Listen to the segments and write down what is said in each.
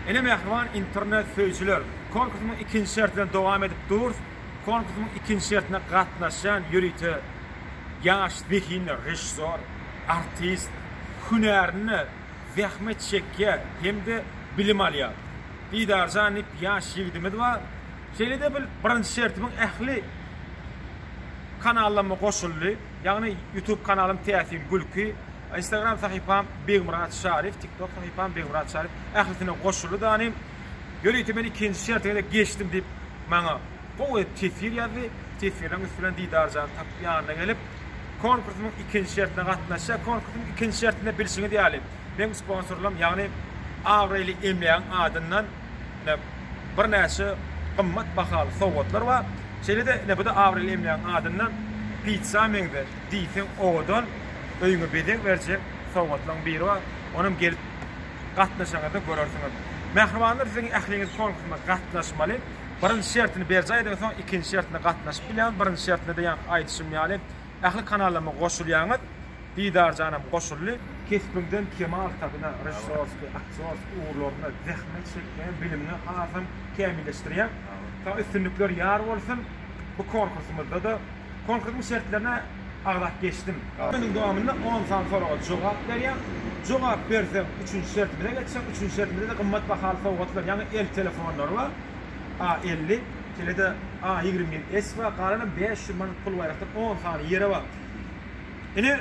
Ine mähriban internet söýüjiler, konkursymyň ikinji şerti bilen dowam edip durs, konkursymyň ikinji şertine gatnaşýan ýörite ýaş zehinler, režissýor, artist, hünärinde zähmet çekýär hem-de bilim alýar. Didarjan diýip ýaş ýigidimiz bar. Şeýle-de bil birinji şertimiň ähli kanallamma goşuldy. Ýagny youtube kanalym Täsin gülki. Instagram sahypam Begmyrat Şarif TikTok sahypam Begmyrat Şarif ählisine goşuly danym. Ýörite men ikinji şerte gezek geçdim diýip maňa gowy edip teswir ýazdy. Teswirleriň üsti bilen Didarjany tapyp ýanyna gelip konkursyň ikinji şertine gatnaşýar. Konkursyň ikinji şertinde bilşiňiz ýaly meň sponsorlarym ýagny abraýly emlägiň adyndan ine birnäçe gymmat bahaly sowgatlar bar. Şeýle-de ine bu-da abraýly emlägiň adyndan pitsa meňze. diýseň owadan öýüňe bezeg berjek sowgatlaň biri bar, onam gelip gatnaşaňyzda görersiňiz. Mähribanlar siziň ähliňiz konkursma gatnaşmaly, birinji şertini berjaý ediň soň ikinji şertine gatnaşyp bilýäňiz, birinji şertinde-de ýaňky aýdyşym ýaly ähli kanallaryma goşulýaňyz, Didarjanam goşuldy. Kesbiňden kemal tabyna, režissýorskiý, aktýorskiý ugurlarynda zähmet çekýäň, bilimiňi hasam kämilleşdirýäň. Saňa üstünlikler ýar bolsun. Bu konkursymyzda-da. Konkursyň şertlerine agzap geçdim. Günüň dowamynda on sany soraga jogap berýäň. Jogap berseň, üçünji şertimize geçseň, üçünji şertimizde-de gymmat bahaly sowgatlar, ýaňy el telefonlary bar, A elli, şeýle-de A ýigrimi bir S bar, galanam bäş ýüz manat pul baýrakda on sany ýere bar. Ine,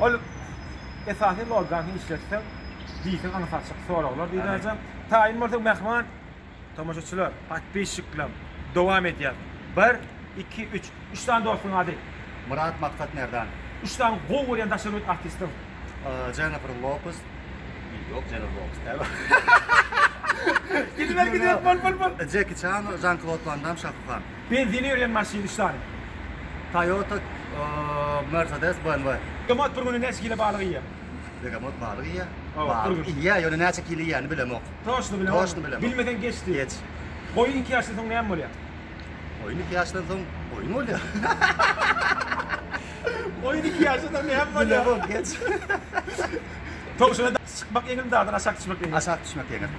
Ol esasy logany işletseň, diýseň aňsaçyk soraglar diýilärjek. Taýyn bolsaň mähriban tomaşaçylar, podpisçikler dowam edýär. Bir, iki, üç. Üç sany dostuň ady? Myrat Maksat Merdan. Üç sany gowy görýän daş döwlet artistiň? Jennifer Lopez. Ýok, Jennifer Lopez däl ol. Gidiber, gidiber, bol, bol, bol. Jeki Çan, Žan-Klod Wan Dam, Şahu Han. Benzini berýän maşyn üç sany. Toyota, Mercedes, BMW. Begemot bir güne näçe kilo balyk iýýär? Begemot balyk iýýär. Hawa, bir gün. Iýýär, ýöne näçe kilo iýýärini bilemok. Toşny bilemok. Toşny bilemok. Bilmeseň geçdi. Geç. Goýun iki ýaşdan soň näme bolýar? Goýun iki ýaşdan soň goýun bolýar. Goýun iki ýaşdan soň näme bolýar? Bilemok, geç. Towşana dagdan çykmak ýeňilmi, dagdan aşak düşmek ýeňilmi? Aşak düşmek ýeňil.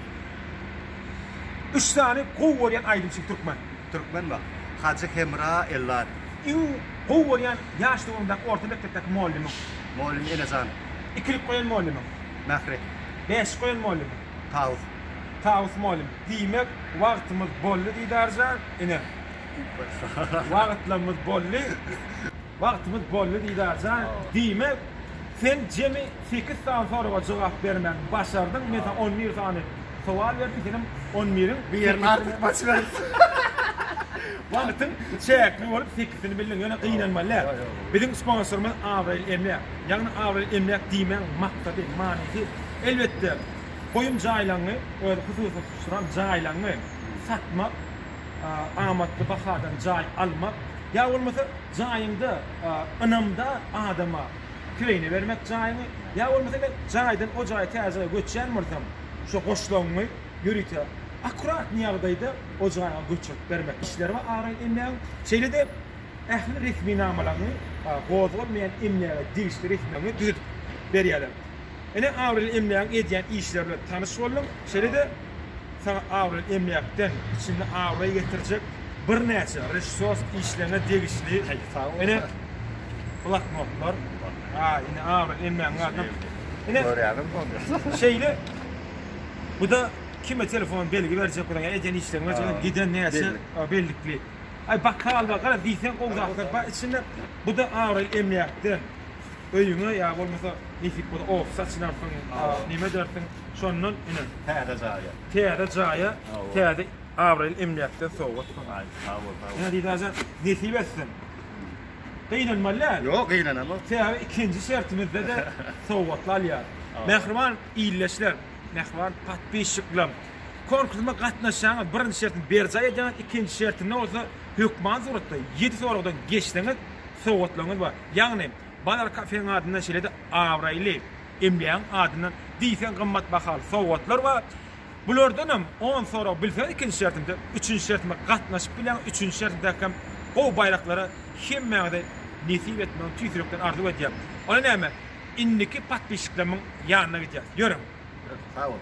Üç sany gowy görýän aýdymçy türkmen. Türkmenwagt, Hajy Hemra Ellat. Iň gowy görýän ýaş döwrüňdäki orta mekdepdäki mugallymyň? Mugallym Enejan. Ikilik goýan mugallymyň? Mähri. Bäşlik goýan mugallymyň? Tawus. Tawus mugallym. Diýmek, wagtymyz boldy Didarjan ine. Wagtlarymyz boldy. Wagtymyz boldy Didarjan, diýmek, sen jemi sekiz sany soraga jogap bermäni başardyň, men saňa on bir sany sowal berdim, senem on biriň Bir ýerini artyk baş beripsiň. Wagtyň çäkli bolup sekisini bildiň, ýöne gynanma lä. Biziň sponsorymyz Abraýly emläk. Ýagny Abraýly emläk diýmegiň maksady, manysy, elbetde, goýum jaýlaňňy, özi hususy tutulan jaýlaňňy satmak, amatly bahadan jaý almak ýa bolmasa jaýyňda ynamdar adama kireýine bermek jaýyňy ýa bolmasa men jaýdan o jaýa täze göçýän bolsam şo goşlagyňy ýörite akkuratny ýagdaýda o jaýa göçürip bermek işleri bar araýyn emlägiň şeýle-de ähli resminamalaryňy gozgalmaýan emläge degişli resminamalaryňy düzedip berýärler Ine Abrel emlägiň edýän işleri bilen tanyş boldum. Şeýle-de saňa Abrel emläkden içinde abraý getirjek birnäçe režissýor işlerine degişli ine bloknotlar. A ine Abrel emlägiň adyna ine Görýäňizmi ony? Şeýle bu-da kime telefon belgi berjek bolan ýa edýän işleriň berjek bolan giden näçe bellikli. Aý bokal bar garaz diýseň gowy zatlar bar içinde. Bu-da Abrel emläkden öýüňe ýa bolmasa nesip bolsa ofis açylarsyň, neme edersiň, şondan ine täze jaýa, täze jaýa, täze abraýly emläkden sowgat saňa. Sag bol, sag bol. Aziz aga, nesip etsin. Gynanmaly däl. Ýok, gynanamok. Sebäbi ikinji şertimizde-de sowgatly alýarys. Mähriban illeçiler, mähriban podpisçiklerim, konkursyma gatnaşýaňyz, birinji şertimi berjaý edýäňiz, ikinji şertimde bolsa hökmany suratda ýedi soragdan geçseňiz, sowgatlaryňyz bar. Ýagny, bazar kafeň adyndan şeýle-de abraýly emlägiň adyndan diýseň gymmat bahaly sowgatlar bar. Bulardanam on sorag bilseňiz ikinji şertimize, üçünji şertime gatnaşyp bilýäňiz, üçünji şertimdäki hem gowy baýraklary hemmäňize nesip etmegini tüýs ýürekden arzuw edýän. Onda näme, indiki podpisçiklerimiň ýanyna gidýäs. Ýörüň! Sag boluň!